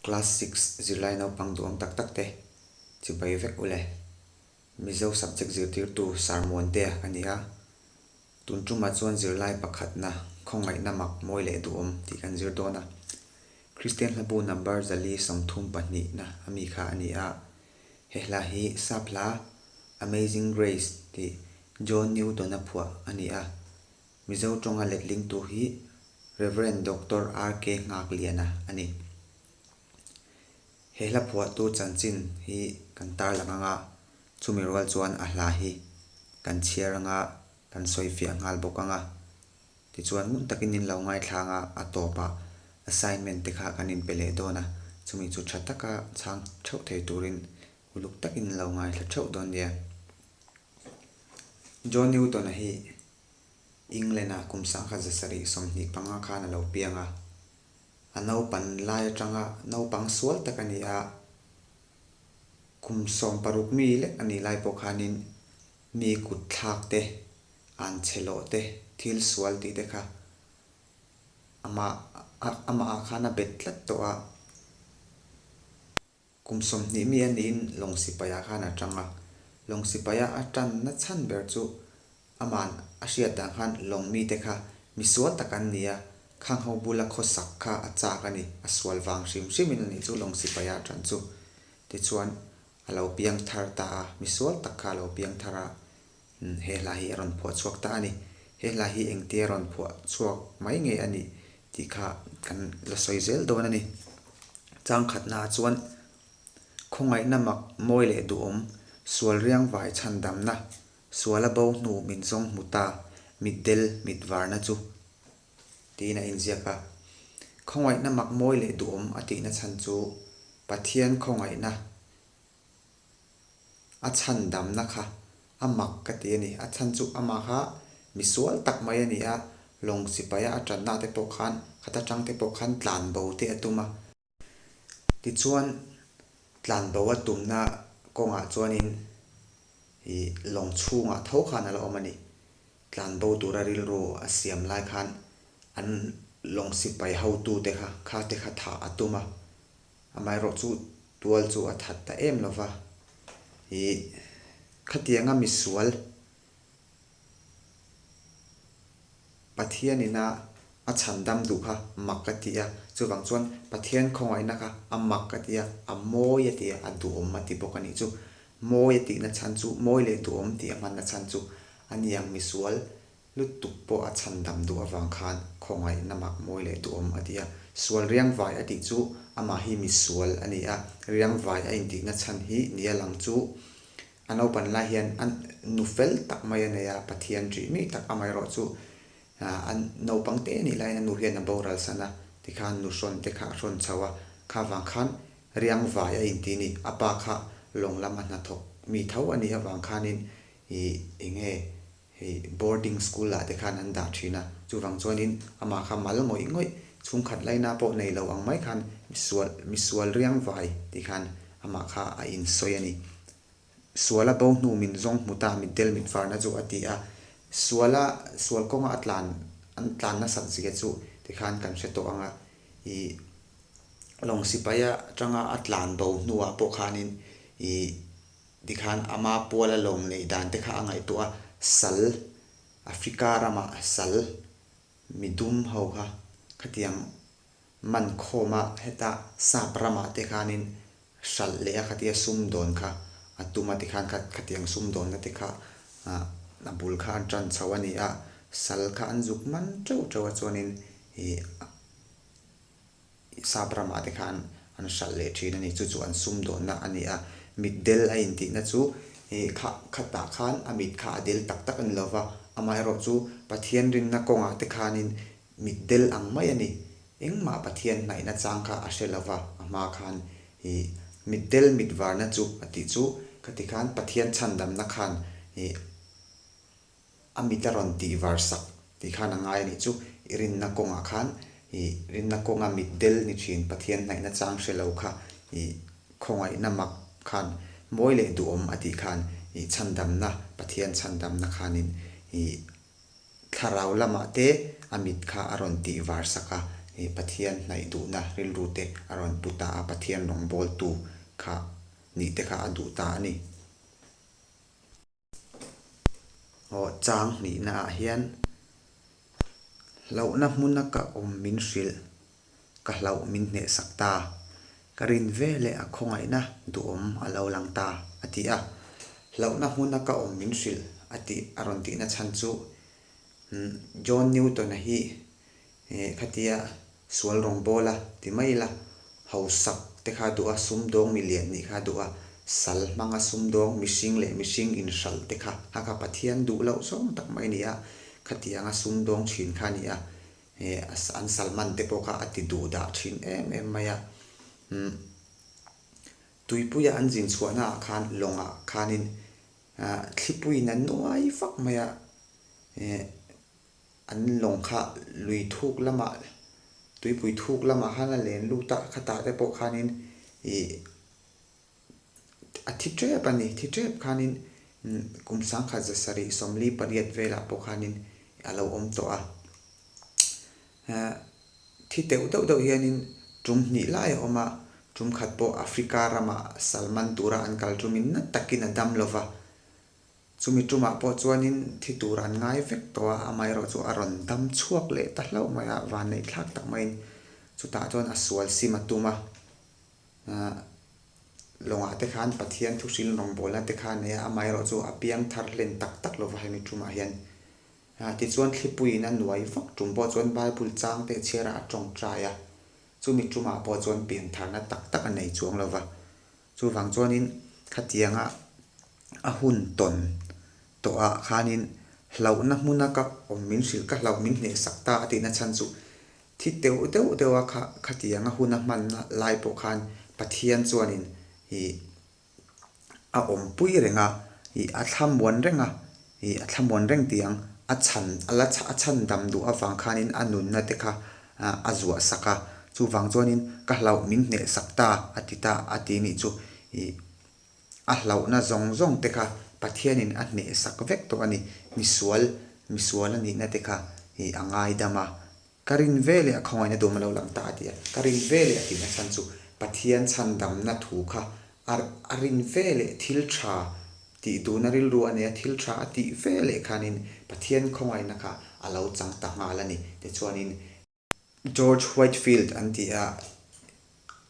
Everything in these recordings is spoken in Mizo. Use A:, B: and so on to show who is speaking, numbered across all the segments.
A: Class six zirlai naupang duhawng tak tak te chi bai vek u le. Mizo subject zirtirtu Sir Muan te a ni a. Tun ṭuma chuan zirlai pakhatna khawngaihna mak mawi leh duhawm tih kan zir dawn a. Kristian hlabu number zali sawmthum pahnihna a mi kha a ni a. He hla hi Saphla, Amazing Grace, tih John Newton-a phuah a ni a. Mizo tawnga letlingtu hi Rev. Doctor RK Nghakliana a ni. He hla phuahtu chanchin hi kan tar lang anga chumi rual chuan a hla hi kan chhiar anga kan sawifiah nghal bawk anga tichuan ngun takin min lo ngaithla anga a tawpah assignment te kha kan inpe leh dawn a, chumi chu tha taka chhang theuh thei turin uluk takin lo ngaithla theuh dawn nia. John Newton-a hi England-a kum sangha zasarih sawmhnih panga khan a lo piang a, a naupan lai atanga naupang sual tak a ni a, kum sawm paruk mi lek a nih lai pawh khanin mi kut thlak te, an che lawh te, thil sual tih te kha amah, amah ah khan a bet tlat tawh a. Kum sawmhnih mi a niin lawng sipaiah khan a ṭang a. Lawng sipaia a ṭan na chhan ber chu a man a hriat dan khan lawng mite kha mi sual tak an ni a, khang ho bula khaw sak kha a chak a ni, a sual vang hrim hrimin a nih chu lawng sipaia ṭan chu tichuan a lo piang thar ta a, mi sual tak kha a lo piang thar a. He hla hi a rawn phuah chhuak ta a ni. He hla hi engtia rawn phuah chhuak mai nge a nih tih kha kan la sawi zel dawn a ni. Changkhatnaah chuan khawngaihna mak mawi leh duhawm, sual riang vai chhan damna, suala bo hnu min zawng hmu ta, mitdel mitvarna chu tiin a inziak a. Khawngaihna mak mawi leh duhawm a tihna chhan chu Pathian khawngaihna A chhan damna kha a mak ka ti a ni. A chhan chu amah kha mi sual tak mai a ni a, lawng sipaia a tanna te pawh khan khata tang te pawh khan tlan bo te a tum a. Tichuan tlan bo a tumna kawngah chuanin i lawng chhungah tho khan a la awm a ni. Tlan bo tura rilru a siam lai khan an lawng sipai hotute kha khate kha thah a tum a, Amaherawhchu chu tual chu a that ta em lova, i khatianga misual Pathian ina a chhan dam duh kha mak ka ti a, chuvang chuan Pathian khawngaihna kha a mak ka ti a, a mawi a ti a, a duhawm a ti bawk a nih chu. Mawi a tihna chhan chu, mawi leh duhawm tih a hmanna chhan chu a niang misual Lutuk pawh a chhan dam duh avang khan khawngaihna mak mawi leh duh awm a ti a. Sual riangvai a tih chu amah hi misual a ni a, riangvai a intihna chhan hi ni a lang chu a naupan lai hian a nu fel tak mai a nei a, Pathian ṭih mih tak amah erawh chu a naupang te nih laiin a nu hian a boral san a, tikhan nu hrawn te kha a hrawn chho a, kha vang khan riangvai a inti ni, a pa kha lawng lam a hnathawk mi tho a nih avang khanin ih eng nge hei boarding school ah te khan an dah thin a, chuvang chuanin amah kha mal ngawih ngawih, chhungkhat laina pawh nei lo ang mai khan misual misual riang vai tih khan amah kha a insawi a ni. Suala bo hnu min zawng hmu ta mitdel mitvarna chu a ti a, suala sual kawnga a tlan an tlan nasat zia chu ti khan kan hre tawh ang a, i lawng sipai atanga a tlan bo hnuah pawh khanin i Tikhan ama puala lawm lei dante kha a ngaihtuah a, Sal, Africa rama Sal, mi dum ho kha khatiang man khawma heta Sap rama te khanin hralh leh a khatia sum dawn kha a tum a tikhan kha khatiang sum dawnna te kha a bul kha an tan chho a ni a, Sal kha an zuk man teuh teuh a chuanin ih Sap ramah te khan an hralh leh thin a ni, chu chu an sum dawnna a ni a. Mit del a intihna chu i kha khatah khan a mit kha a del tak tak a ni lo va, amaherawh chu Pathian rinna kawnga te khanin mit del ang mai a ni. Engmah Pathian hnaihna chang kha a hre lo va, a hma khan i mit del mit varna chu a tih chu ka ti khan Pathian chhandamna khan i A mit a rawn tih var sak tih khan a ngai a nih chu, i rinna kawngah khan i rinna kawnga mitdel ni thin Pathian hnaihna chang hre lo kha i khawngaihna mak khan mawi leh duhawm a tih khan i chhandamna Pathian chhandamna khanin i thlarau lamah te a mit kha a rawn tih var sak a, i Pathian hnaih duhna rilru te a rawn pu ta a, Pathian rawngbawltu kha nih te kha a duh ta a ni. aw chang hnihna ah hian hlauhna hmuna ka awm min hrilh ka hlauh min hnehsak ta, ka rin ve leh a khawngaihna duhawm a lo lang ta a ti a. Hlauhna hmuna ka awm min hrilh a tih a rawn tihna chhan chu John Newton-a hi He khatia sual rawng pawl a ti mai ila, hausak te kha duh a, sumdawng milian nih kha duh a, sal hmanga sumdawng mihring leh mihring inhralh te kha a kha Pathian duh loh zawng tak mai ni a, khatianga sumdawng thin kha ni a, he an salman te pawh kha a ti duh dah thin em em mai a. Umm tuipuia an zin chhuahna ah khan lawng ah khanin thlipui in an nuai vak mai a, he An lawng kha lui thuk lamah, tuipui thuk lamah khan a len lut a, khatah te pawh khanin ih a thi tep a ni, thi tep khanin kum sangkhat za sarih sawmli pariat velah pawh khanin a lo awm tawh a. Thi teuh deuh deuh hianin tum hnih lai a awm a, tum khat pawh Africa ramah Salman tura an kal tumin nat takin a dam lo va, Chumi tumah pawh chuanin thi tur an ngai vek tawh a, amaherawh chu a rawn dam chhuak leh ta hlauh mai a, vanneih thlak tak maiin chutah chuan a sual sim a tum a. Aah, lawngah te khan Pathian thuhrilin rawngbawlna te kha a nei a, amaherawh chu a piang thar hlen tak tak lova hemi tumah hian. Aah, tichuan thlipuiin a nuai vak tum pawh chuan Bible chang te chhiara a tawngtai a, chumi tumah pawh chuan pian tharna tak tak a nei chuang lova. Chuvang chuanin khatianga a hun tawn tawhah khanin hlauhna hmuna ka awm min hrilh, ka hlauh min hneh sak ta a tihna chhan chu thi teuh deuh deuh a kha khatianga huna hmanna lai pawh khan Pathian chuanin ih a awmpui reng a, ih a thlamuan reng a. Hi a thlamuan reng tiang a chhan a la a chhan dam duh avang khanin a nunna te kha a zuah sak a, chuvang chuanin ka hlauh min hneh sak ta a ti ta a ti nih chu i a hlauhna zawng zawng te kha Pathianin a hneh sak vek tawh a ni, misual misual a nihna te kha i a ngaidam a. Ka rin ve leh a khawngaihna duhma lo lang ta a ti a, ka rin ve leh a tihna chhan chu Pathian chhandamna thu kha a a rin ve leh thil tha tih duhna rilru a nia, thil tha a tih ve leh khanin Pathian khawngaihna kha a lo chang ta nghal a ni tichuanin George Whitefield an ti a,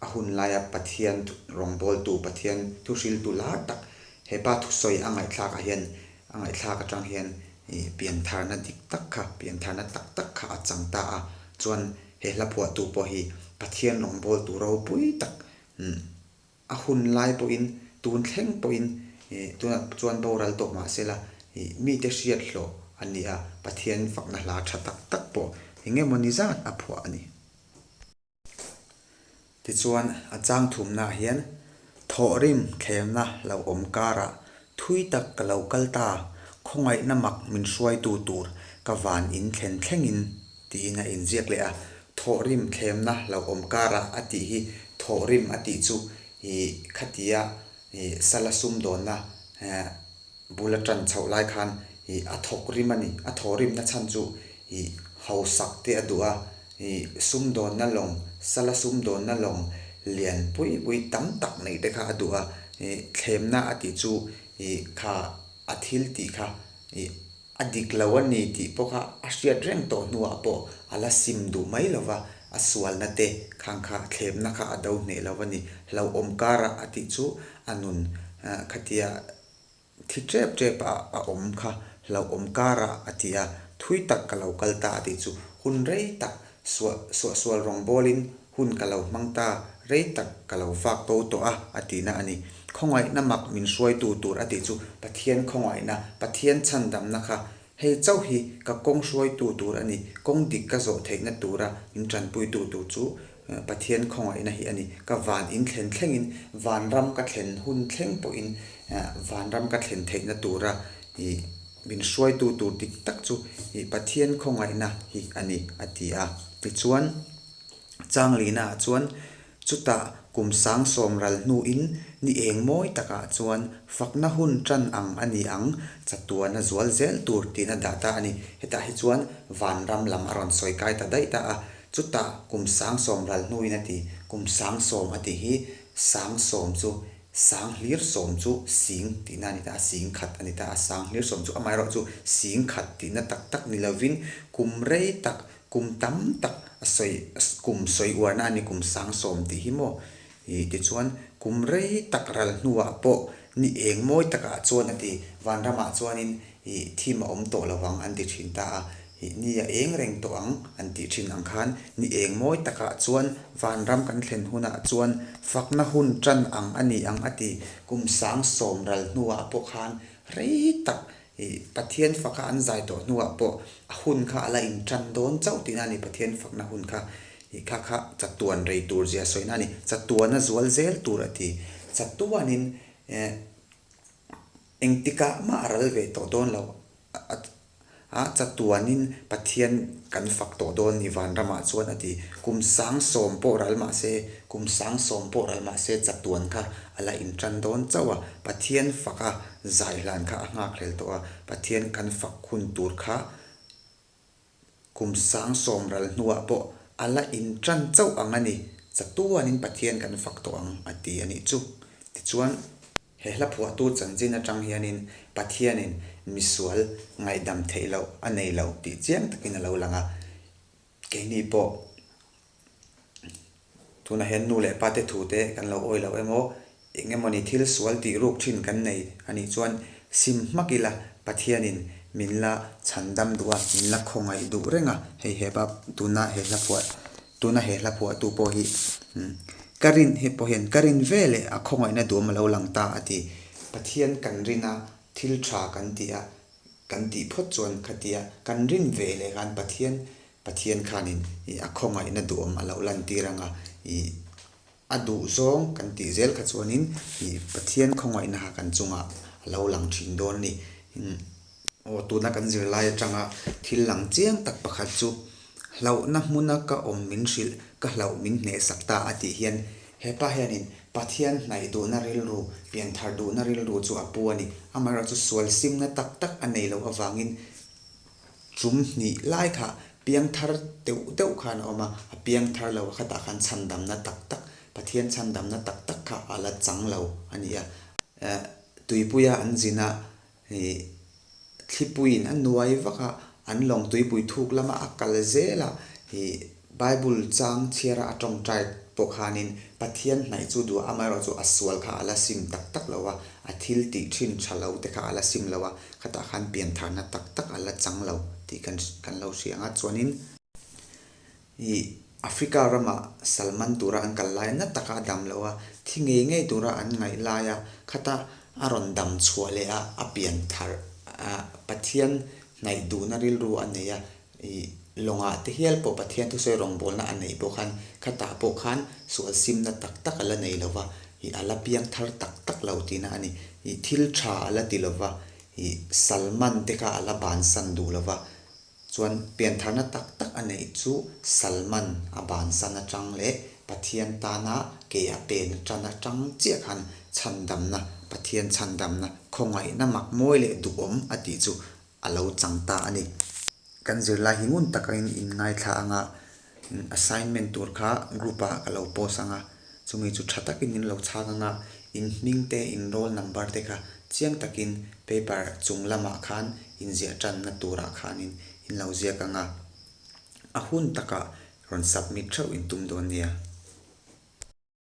A: A hun laia Pathian rawngbawltu, Pathian thuhriltu lar tak hepa thusawi a ngaihthlakah hian, a ngaihthlak atang hian piantharna dik tak kha, piantharna tak tak kha a chang ta a. Chuan he hlaphuahtu pawh hi Pathian rawngbawltu ropui tak a hun lai pawhin, tun thleng pawhin tunah chuan boral tawh mah se la, mite hriathlawh a ni a, Pathian fakna hla tha tak tak pawh engemawni zat a phuah a ni. Tichuan, a changthumna ah hian thawhrim thlenna lo awm karah thui tak ka lo kal ta, khawngaihna mak min hruaitu tur ka van in thlen thlengin tiin a inziak leh a. Thawhrim thlemna lo awm karah a tih hi thawhrim a tih chu ih khatia ih sala sum dawnna eh bula tan chhoh lai khan ih a thawk rim a ni. A thawhrimna chhan chu ih hausak te a duh a, I sumdawnna lawng, sala sumdawnna lawng lian pui pui tam tak neih te kha a duh a, i thlemna a tih chu i kha a thil tih kha i a dik lo a ni tih pawh kha a hriat reng tawh hnuah pawh a la sim duh mai lo va, a sualna te khang kha thlemna kha a do hneh lo a ni, hlauhawm kara a tih chu a nun khatia. Thi ṭep ṭep a a awm kha hlauh awm kar a a ti a, thui tak ka lo kal ta a tih chu hun rei tak suah suah sual rawngbâwl in hun ka lo hmang ta rei tak ka lo vak to tawh a a ti na a ni. Khawngaihna mak min hruaitu tur a tih chu Pathian khawngaihna, Pathian chhandamna kha Hei chauh hi ka kawng hruaitu tur a ni, kawng dik ka zawh theihna tura in tanpuitu tur chu Pathian khawngaihna hi a ni. Ka van in thlen thlengin, van ram ka thlen hun thleng pawhin van ram ka thlen theihna tura min hruaitu tur dik tak chu Pathian khawngaihna hi a ni, a ti a. Tichuan, Changlina-ah chuan Chutah kum sang sawm ral hnu in ni eng mawi tak ah chuan fakna hun tan ang a ni ang, chatuan a zual zel tur tihna dah ta a ni. Hetah hi chuan vanram lam a rawn sawi kai ta daih ta a, chutah kum sang sawm ral hnu in a ti. Kum sang sawm a tih hi sang sawm chu sang hlir sawm chu sing tihna a ni ta a, sing khat a ni ta a, sang hlir sawm chu amaherawhchu sing khat tihna tak tak ni lo in kum rei tak Kum tam tak a sawi, kum sawi uarna a ni kum sang sawm tih hi maw? Ih, tichuan, kum rei tak ral hnuah pawh ni eng mawi takah chuan a ti. Vanramah chuanin, ih, thim a awm tawh lo ang an ti thin ta a, ih, ni a eng reng tawh ang an tih thin ang khan ni eng mawi takah chuan vanram kan thlen hunah chuan fakna hun tan ang a ni ang a ti. Kum sang sawm ral hnuah pawh khan rei tak I Pathian fak a an zai tawh hnuah pawh a hun kha a la intan dawn chauh tihna a ni, Pathian fakna hun kha i kha kha chatuan rei tur zia sawihna a ni, chatuana zual zel tur a ti. Chatuanin eh engtikah mah a ral ve tawh dawn loh a a chatuanin Pathian kan fak tawh dawn a ni Vanramah chuan a ti. Kum sang sawm pawh ral mahse, kum sang sawm pawh ral mahse chatuan kha A la inṭan dawn chauh a, Pathian faka zaihlan kha a nghakhlel tawh a, Pathian kan fak hun tur kha kum sang sawm ral hnuah pawh a la inṭan chauh ang a ni. Chatuanin Pathian kan fak tawh ang a ti a nih chu. Tichuan, he hla phuahtu chanchin aṭang hianin Pathianin misual ngaihdam theih loh a nei lo tih chiang takin a lo lang a. Keini pawh Tunah hian nu leh pate thute kan lo awi loh emaw, eng emawni thil sual tihruk thin kan nei a nih chuan sim hmak ila Pathianin min la chhan dam duh a, min la khawngaih duh reng a, hei he bab tuna he hlaphuah tuna he hlaphuahtu pawh hi ka rin hi pawh hian ka rin ve leh a khawngaihna duam a lo lang ta a ti. Pathian kan rin a, thil tha kan ti a, kan tih phawt chuan khatia kan rin ve leh khan Pathian Pathian khan in ih a khawngaihna duhawm a lo lantir ang a, ih a duh zawng kan tih zel kha chuan in ih Pathian khawngaihna ha kan chung ah a lo lang thin dawn a ni. Aw tuna kan zir lai atang a thil lang chiang tak pakhat chu hlauhna hmun a ka awm min hrilh, ka hlauh min hnehsak ta a tih hian hepa hian in Pathian hnaih duhna rilru, pian thar duhna rilru chu a pu a ni. Amaherawhchu sual simna tak tak a nei loh avang in Chum hnih lai kha piang thar deuh deuh khan a awm a, a piang thar lo a khatah khan chhandamna tak tak, Pathian chhandamna tak tak kha a la chang lo a ni a. Tuipuia an zin a, hei thlipuiin a nuai vak a, an lawng tuipui thuk lama a kal zel a, hei Bible chang chhiara a tawngtai pawh khanin Pathian hnaih chu duh amaherawh chu a sual kha a la sim tak tak lo a, a thil tih thin tha lo te kha a la sim lo a, khatah khan pian tharna tak tak a la chang lo tih kan kan lo hria ang a. Chuanin i Africa rama Salman tura an kal laia na taka a dam lo a, thi ngei ngei tura an ngaih laia khata a rawn dam chhuah leh a, a pian thar a Pathian hnaih duhna rilru a nei a, I lawngah te hial pawh Pathian thusawi rawngbawlna a nei pawh khan khatah pawh khan sualsimna tak tak a la nei lo va, ih a la piang thar tak tak lo tihna a ni. Ih thil tha a la ti lo va, ih Salman te kha a la bansan duh lo va. Chuan piantharna tak tak a neih chu Salman a bansan atang leh Pathian tana ke a pen atan atang chiah khan chhandamna, Pathian chhandamna, khawngaihna makmawii leh duhawm a tih chu a lo chang ta a ni. Kan zirlai hi ngun tak angin in ngaithla ang a, assignment tur kha group ah ka lo post ang a, chumi chu tha takin in lo chhak ang a, in hming te in roll number te kha chiang takin paper chung lamah khan in ziah tanna turah khanin in lo ziak ang a, a hun takah rawn submit theuh in tum dawn nia.